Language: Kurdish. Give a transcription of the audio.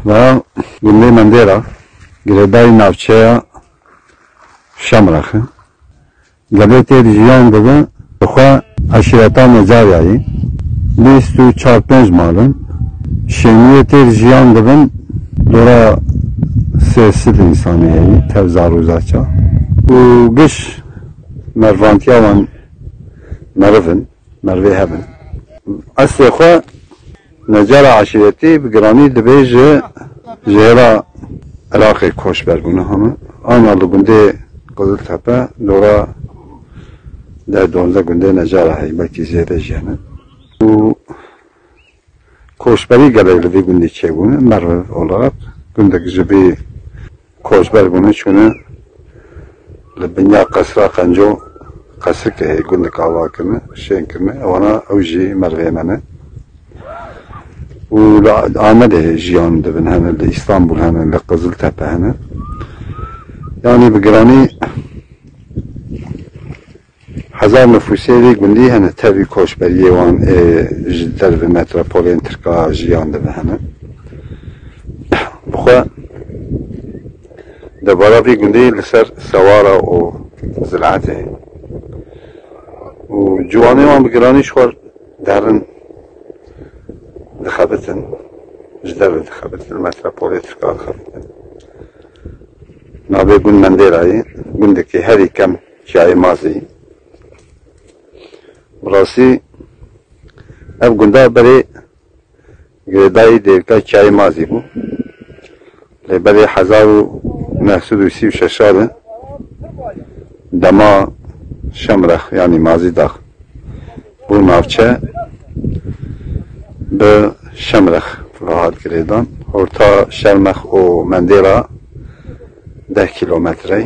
Di gundê Mendêra, girêdayî navçeya Şemrax e. Gelê têr jiyan dibe bi xwe eşîreta Necaryayî, bîst û çar pênc mal in. Şêniyê têr jiyan dibin dora sê sid însanî heyî, tev zar û zaça û giş mervantiya wan meriv in, merivê hev in. Eslê xwe. Necara Eşîretî bi giranî dibê ji jêra Iraqê koçber bûne hame. Ana li gundê Qiziltepe dora deh duwazdeh gundê Necara heye belkî zêde jî hene û koçberî gelek li vî gundî çêbûne. Merv Olaq gundek ji vî Koçber bûne çûne li binya qesra qenco qesrikê heye gundek ava kirine şên kirine wana ew jî merivê me ne û li Amedê heye jiyan dibin hene li Îstanbul hene li Qiziltepe hene yanî bi giranî Hezar nifûsê vê gundî hene, tevî koçberiyê wan ê ji derve metropolên tirka jiyan de ve hene. Bi xwe debara vê gundê li ser sewara û ziraetê ye û ciwanê wan bi giranî ji xwe derin dixebitin, ji derve dixebitin, li metropolê tirka dixebitin. Navê gund Mendêra ye, gundekî herî kem Çiyayê Mazî, Bi rastî ev gunda berê girêdayî dêrika Çiyayê Mazî bû. Lê berê hezar û neh sed û sî û şeş re dema Şemrex yanî Mazî Dax bû navçe bi Şemrex re hat girêdan. Horta Şermex û Mendê re deh kîlometrey.